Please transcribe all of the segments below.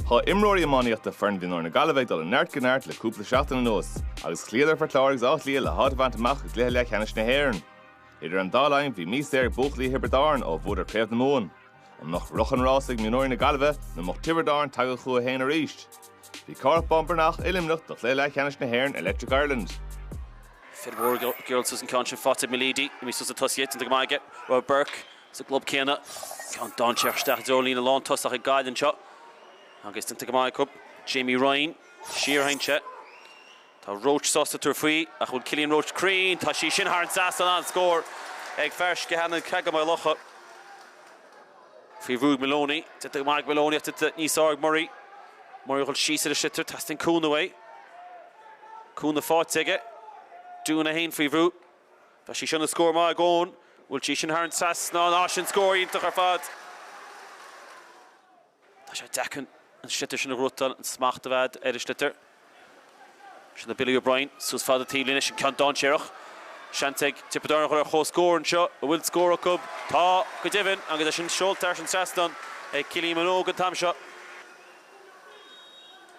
Tá imreoirí iománaíochta foireann mhionúir na Gaillimhe ag dul ó neart go neart le cúpla seachtain anuas agus chloíodar Port Láirge agus Áth Cliath le háit a bhaint amach i gcluiche leathcheannais na hÉireann. Idir an dá linn bhí mí saor ag buachaillí Thiobraid Árann ó bhuadar Craobh na Mumhan. An mbeadh rith an rása ag mionúir na Gaillimhe nó mbeadh Tiobraid Árann tagtha chucu féin arís? Bhí Cárthach Bán Breathnach i Luimneach do chluiche leathcheannais na hÉireann Electric Ireland. Fir mhór a gheall suas an ceann sin faighte ag Mulleady, imithe suas sna tosaithe, déanta go maith aige. Robert Burke, sa gclub céanna. Ceann dainséarach isteach i dtreo líne lántosach ag Gaillimh anseo agus déanta go maith acu. Jamie Ryan, siar a thoinse. Tá Roche sásta tabhairt faoi ach bhfuil Cillian Roche cruinn? Tá sí sin thar an trasnán, an-scór ag fear Sceachánach, an Creagán Maigh Locha, faoi bhrú ag Maloney. Déanta go maith ag Maloney ach déanta níos fearr ag Murray. Murray a dhul síos ar an sliotar, teastaíonn cúnamh uaidh. Cúnamh faighte aige. Doughan é féin faoi bhrú. Bheadh sí sin ina scór maith ag Eoghan. An bhfuil sí sin thar an trasnán. Á, sin scór iontach ar fad. Tá sé deacair an sliotar sin a ghnóthachtáil, an smacht a bheith ar an sliotar. Sin do Billy O'Brien, suas fad an taobhlíne, sin ceann dainséarach. Seans ag Tiobraid Árann a chur ar chomhscór anseo, an bhfuil scór acu? Tá, go deimhin, agus é sin seolta thar an trasnán ag Cillian Minogue an t-am seo.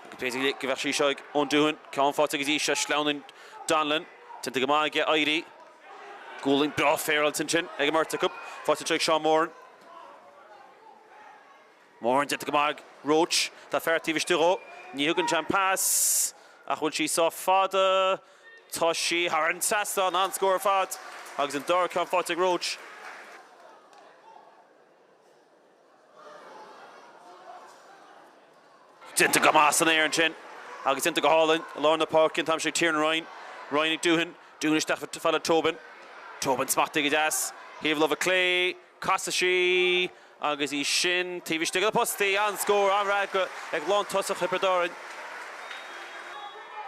Agus b'fhéidir go bheadh sí seo ag Eoghan Doughan, ceann faighte go dtí seo, sleamhnaíonn Donnellan. Déanta go maith aige éirí. Gualainn bhreá féaráilte ansin ag an mbeirt acu. Faighte anseo ag Seán Moran. Moran déanta go maith ag Roche. Tá fear taobh istigh dhó. Ní thugann sé an pas ach bhfuil sí sách fada? Tá sí thar an trasnán. An-scór ar fad agus an dara ceann faighte ag Roche. Déanta go maith san aer ansin agus déanta go hálainn i lár na páirce an t-am seo ag Tiernan Ryan. Ryan ag Doughan. Doughan isteach i bhfalla Tobin. Tobin smachtaithe go deas. Thaobh láimhe clé. Casfaidh sí agus í sin taobh istigh den phosta. An-scór, an-fhreagra ag lántosach Thiobraid Árann.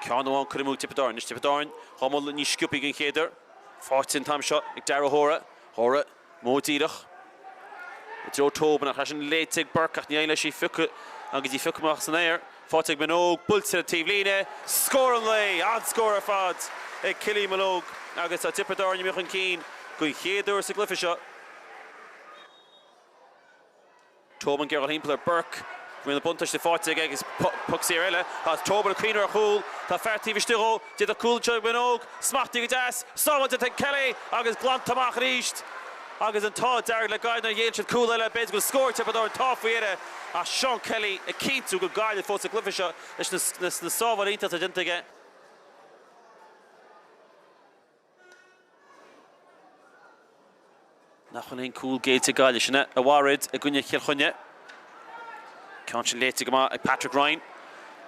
Ceann amháin curtha amú ag Tiobraid Árann. Anois Tiobraid Árann dhá mbualadh níos sciobthaí den chéad uair. Faighte an t-am seo ag Darragh Hora. Hora. Modh díreach i dtreo Tobin ach leis sin léite ag Burke ach ní éiríonn leis í a phiocadh agus í a phiocadh amach as an aer. Faighte ag Minogue, buailte ón taobhlíne, scór an lae! An-scór ar fad ag Cillian Minogue agus tá Tiobraid Árann imithe chun cinn den chéad uair sa gcluiche seo. Tobin ag iarraidh a dhul thimpeall ar Burke. Bhfuil an buntáiste faighte aige agus poc saor eile. Tá Tobin ag cuimhniú ar chúl. Tá fear taobh istigh dhó. D'fhéadfadh cúl anseo ag Minogue. Smachtaithe go deas. Sábhailte ag Kelly agus glanta amach arís. Agus an t-ádh dearg le Gaillimh nár ghéill siad cúl eile. B'fhéidir go bhfuil scór ag Tiobraid Árann, tá faoi dheireadh ach Seán Kelly ag cinntiú go Gaillimh fós sa gcluiche seo leis na sábháil iontach atá déanta aige. Nach bhfuil aon cúl géillte ag Gaillimh sin a mharaigh iad i gcoinne Chill Chainnigh. Ceann sin léite go maith ag Patrick Ryan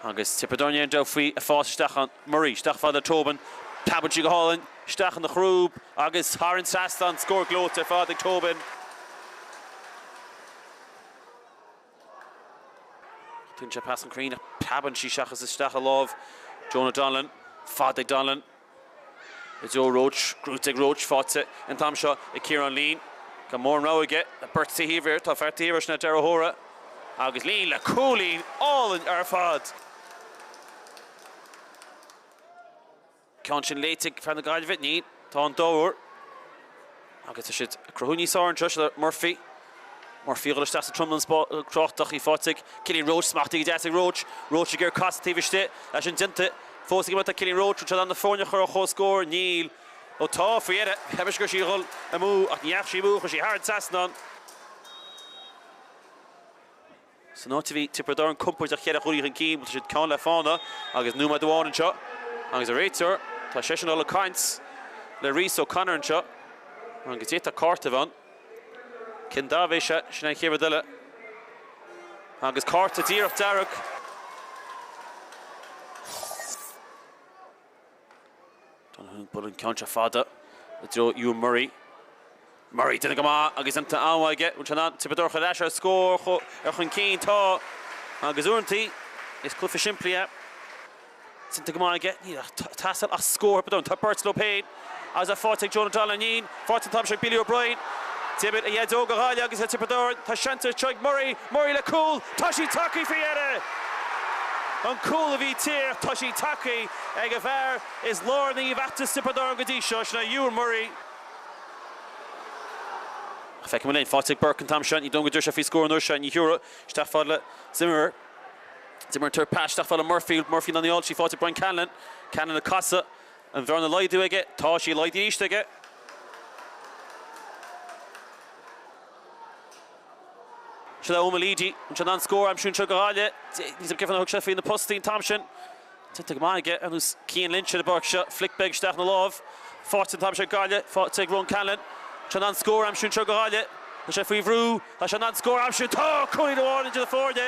agus Tiobraid Árann ag dul faoi, an pas isteach ann. Murray isteach fad le Tobin. Preabann sí go hálainn isteach ina chrúb agus thar an trasnán, scór gleoite ar fad ag Tobin. Tugann sé pas an cruinn ach preabann sí seachas isteach i lámh Jonah Donnellan. Fad ag Donnellan i dtreo Roche. Gnóite ag Roche. Faighte an t-am seo ag Ciarán Leen. Gan móran rogha aige. Tá beirt taobh thiar. Tá fear taobh thiar sna dearthóra. Agus Leen le cúilín álainn ar fad! ceann sin léite ag fear na Gaillimhe, níl. Tá an dobhar agus tá siad ag cruthú níos fearr anseo le Murphy. Murphy a dhul isteach sa tromlan spa crochta, sí faighte ag Killian Roche, smachtaithe go deas ag Roche. Roche ag iarraidh casadh taobh istigh, tá sin déanta. Fós ag imeacht tá Killian Roche, bhfuil siad in ann na foirne a chur ar chomhscór? Níl. Ó tá, faoi dheireadh. Cheap mise go raibh sí a dhul amú ach ní dheachaigh sí amú, chuaigh sí thar an trasnán. San áit a bhí Tiobraid Árann compordach ceithre chúilín chun cinn, bhuel tá siad ceann le fána agus nóiméad amháin anseo agus an réiteoir, tá seisean dul ag caint le Rhys O'Connor anseo agus d'fhéadfadh cárta a bheith ann. Cén dath a bheas air? Sin é an chéad rud eile. Agus cárta díreach dearg. Donohue ag bualadh an ceann seo fada i dtreo Euan Murray. Murray déanamh go maith agus déanta an-mhaith aige. Bhfuil sé in ann Tiobraid Árann a thabhairt ar ais ar scór ar chun cinn? Tá agus uaireantaí is cluiche simplí é. Déanta go maith aige. Níl ag teastáil ach scór botún. Tá beirt leo féin agus tá faighte ag Jonah Donnellan. Faighte an t-am seo ag Billy O'Brien. D'imir a dhaideo do Ghaillimh agus do Thiobraid Árann tá seans anseo ag Murray. Murray le cúl. Tá sí tagtha faoi dheireadh! An cúl a bhí á thuar ach tá sí tagtha ag an bhfear is lárnaí i bhfeachtas Thiobraid Árann go dtí seo. Sin é Euan Murray. Ach feicim go léir faighte ag Burke an t-am seo. Ní dóigh go dtabharfaidh sé faoi scór an uair seo. Ní thabharfaidh isteach fad le Zimmerer. Zimmerer ag tabhairt pas isteach fad le Murphy. Murphy ná níl. Sí faighte ag Brian Callanan. Callanan le casadh. An bhearna a laghdú aige? Tá sí laghdaithe arís aige. Seo é Eoghan Mulleady, an bhfuil sé in ann scór a aimsiú anseo do Ghaillimh. Níl a fhios agam cén fáth nár thug sé faoi na postaí an t-am sin. Tógtha go maith aige ar nós Cian Lynch ar an bpáirc seo. Flic beag isteach ina láimh. Faighte an t-am seo ag Gaillimh. Faighte ag Ronan Cahalan. Bhfuil sé in ann scór a aimsiú anseo do Ghaillimh. Tá sé faoi bhrú. Bhfuil sé in ann scór a aimsiú. Tá! Cúilín amháin idir na foirne.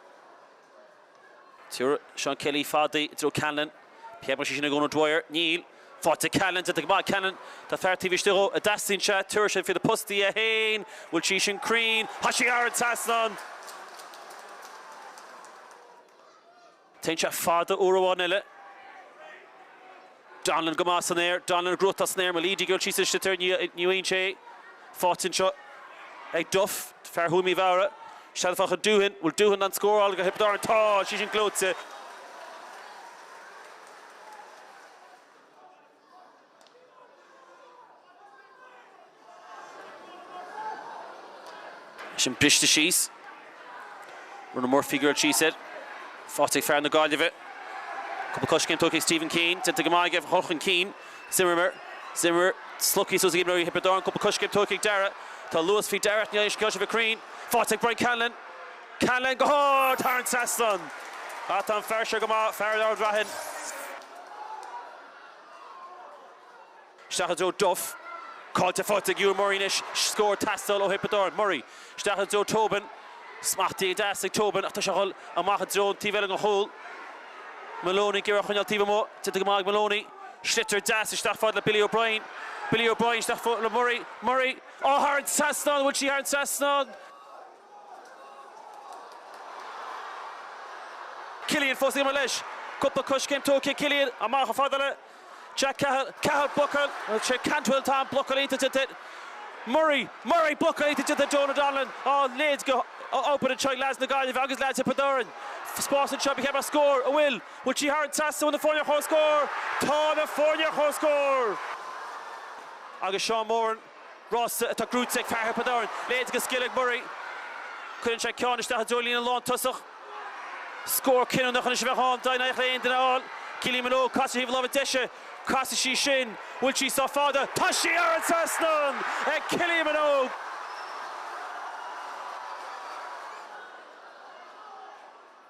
Chuir Seán Kelly fada i dtreo Callanan. Pléifeadh sé sin ag Eoin O'Dwyer. Níl. Faighte ag Callanan. Déanta go maith ag Callanan. Tá fear taobh istigh dhó an dteastaíonn sé. Tabharfaidh sé faoi na postaí é féin. Bhfuil sí sin cruinn. Tá sí thar an trasnán. Téann sé fada uair amháin eile. Donnellan go maith san aer. Donnellan gnóite san aer Mulleady ag dul síos istigh air ní bhíonn sé faighte anseo ag Duff, fear Thuaim Uí Mheadhra. Isteach fad le Doughan, bhfuil Doughan in ann scóráil do Thiobraid Árann? Tá sí sin gleoite. Is sin briste síos Ronan Murphy ag dul síos air. Faighte ag fear na Gaillimhe. Cúpla coiscéim tógtha ag Stephen Keane. Déanta go maith aige ag dul chun cinn. Zimmerer. Zimmer. Slogtha suas ag imreoirí Thiobraid Árann. Cúpla coiscéim tógtha ag Dara. Tá luas faoi Dara ach níl aon scéal sibh ag cruinn. Faighte ag Brian Callanan. Callanan go hard thar an trasnán. Ach tá an fear seo go maith, fear Ard Raithin. Isteach i dtreo Duff. Caillte faighte ag Euan Murray anois. Scór ag teastáil ó Thiobraid Árann. Murray. Isteach i dtreo Tobin. Smachtaithe go deas ag Tobin ach tá sé ag dhul amach i dtreo an taobh eile den chúl. Maloney ag iarraidh a choinneáil taobh amuigh. Déanta go maith ag Maloney. Sliotar deas isteach fad le Billy O'Brien. Billy O'Brien isteach fad le Murray. Murray. Á thar an trasnán! An bhfuil sí thar an trasnán? Cillian fós ag imeacht leis. Cúpla coiscéim tógtha ag Cillian. Amach chomh fada le Jack Cahill. Cahill buachan. Sé Cantwell Tom blocáil iontach de chuid Murray. Murray blocáil iontach de chuid Jonah Donnellan. Á a leithéid de obair anseo ag leaids na Gaillimhe agus leaids Thiobraid Árann. Spás anseo ba cheart go mbeadh scór. An bhfuil. Bhfuil sí thar an trasnán? Bhfuil na foirne ar comhscór? Tá na foirne ar comhscór! Agus Seán Moran. Rás atá gnóite ag fear Thiobraid Árann. A leithéid de scil ag Murray. Cuireann sé ceann isteach i dtreo líne lántosach. Scór cinniúnach anois a bheadh ann dá n-éireodh le haon duine a fháil. Cillian Minogue casadh ar thaobh na láimhe deise. Casfaidh sí sin. Bhfuil sí sách fada? Tá sí thar an trasnán ag Cillian Minogue!